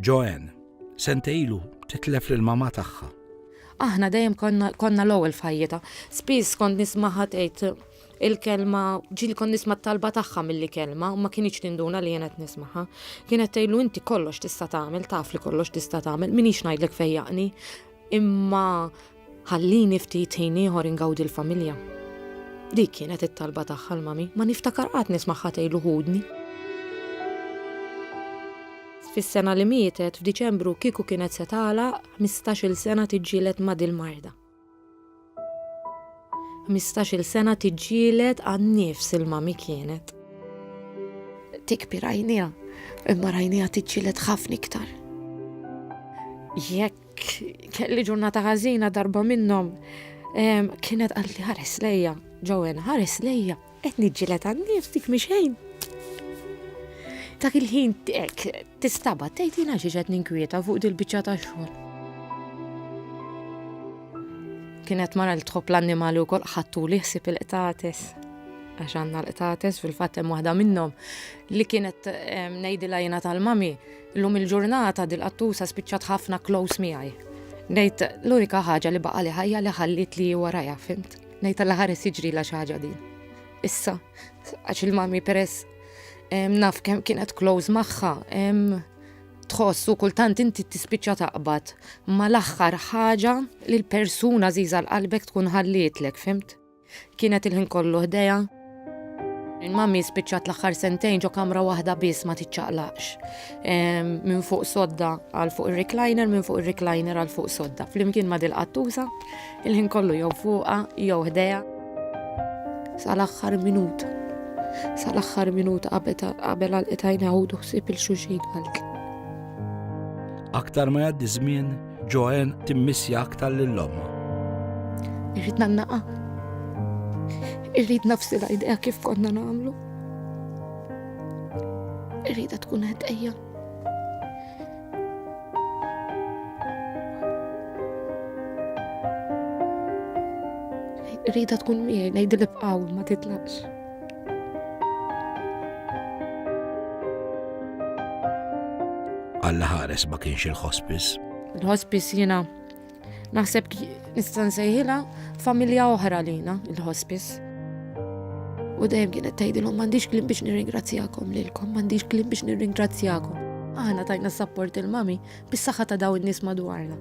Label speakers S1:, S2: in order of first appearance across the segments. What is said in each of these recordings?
S1: Joanne, sentejlu titlef lil mama tagħha. Aħna dejjem
S2: konna l-ewwel fajjeta. Spiss kont nismaħa tgħid il-kelma ġil kon nisma' talba tagħha milli kelma u ma kienx tinduna li jenet nismaħa. Kienet tgħidlu inti kollox tista' tagħmel, taf li kollox tista' tagħmel, minix ngħidlek fejjaqni. Imma Ħallini ftit ħin ieħor ingawdi l-familja. Dik kienet it-talba tagħha l-mami, ma niftakar qatt nismagħha tgħidlu ħudni. Fis-sena li mietet, f'Diċembru kieku kienet se tagħlaq 15-il sena tiġġieled ma' dil-marda. 15-il sena tiġġieled għan-nifs il-mami kienet. Tikbi rajnija, imma rajnija tiġġieled ħafna iktar. Jekk Kelli ġurnata ħażina darba minnhom. Kienet qalt li ħares lejja, ġowen, ħares lejja, qed niġġilet għan-nifs dik mixejn. Dak il-ħin tistaba tgħid jiena xi qed ninkwieta fuq dil-biċċa ta' xogħol. Kienet mara li tħobb l-annimali wkoll ħattu li ħsib il-qtates għax għandna l-qtates fil-fatt hemm waħda minnhom li kienet ngħidilha jiena tal-mami Llum il-ġurnata dil-qattusa spiċċat ħafna close miegħi. Ngħid l-unika ħaġa li baqali ħajja li ħallietli hi warajha, fhimt? Ngħid alla ħares jiġrilha xi ħaġa din. Issa, għax il-mami peress naf kemm kienet close magħha, tħossu kultant inti tispiċċa taqbad ma l-aħħar ħaġa li l-persuna żiża l-qalbek tkun ħallietlek, fimt? Kienet il-ħin kollu ħdejha. Mummy spiċċat l-aħħar sentejn ġo kamra waħda biss ma tiċċaqlaqx. Minn fuq sodda għal fuq ir-recliner, minn fuq ir-recliner għal fuq sodda. Flimkien ma dil-qattuża, il-ħin kollu jew fuqha jew ħdejha. Sal-aħħar minuta. Sal-aħħar minuta qabel għal qitajna għudu ħsieb il-xuxin għalk. Aktar
S1: ma jgħaddi żmien, Joanne timmissja aktar lil ommha.
S2: Irrid nannaqa. Irrid nafsi l-idea kif konna nagħmlu. Irrid tkun qed ejja. Irrid tkun miegħi ngħidilha bqaw ma titlaqx.
S1: Alla ħares ma kienx il-hospice. Il-hospice jina
S2: naħseb nistan sejħila familja oħra lina il-hospice. U dejjem kienet tgħidilhom m'għandix klim biex nirringrazzjakom lilkom, m'għandix klim biex nirringrazzjakom. Aħna tajna s-sapport il-mami bis-saħħa ta' dawn in-nies madwarna.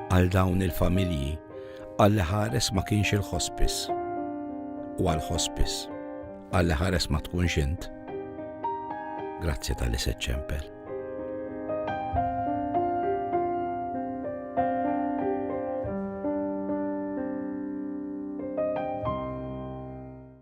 S1: Għal dawn il-familji Għalli ħares ma kienx il-ħospis. U għall-ħospis, għalli ħares ma tkunx int. Grazzi tal-li se ċempel.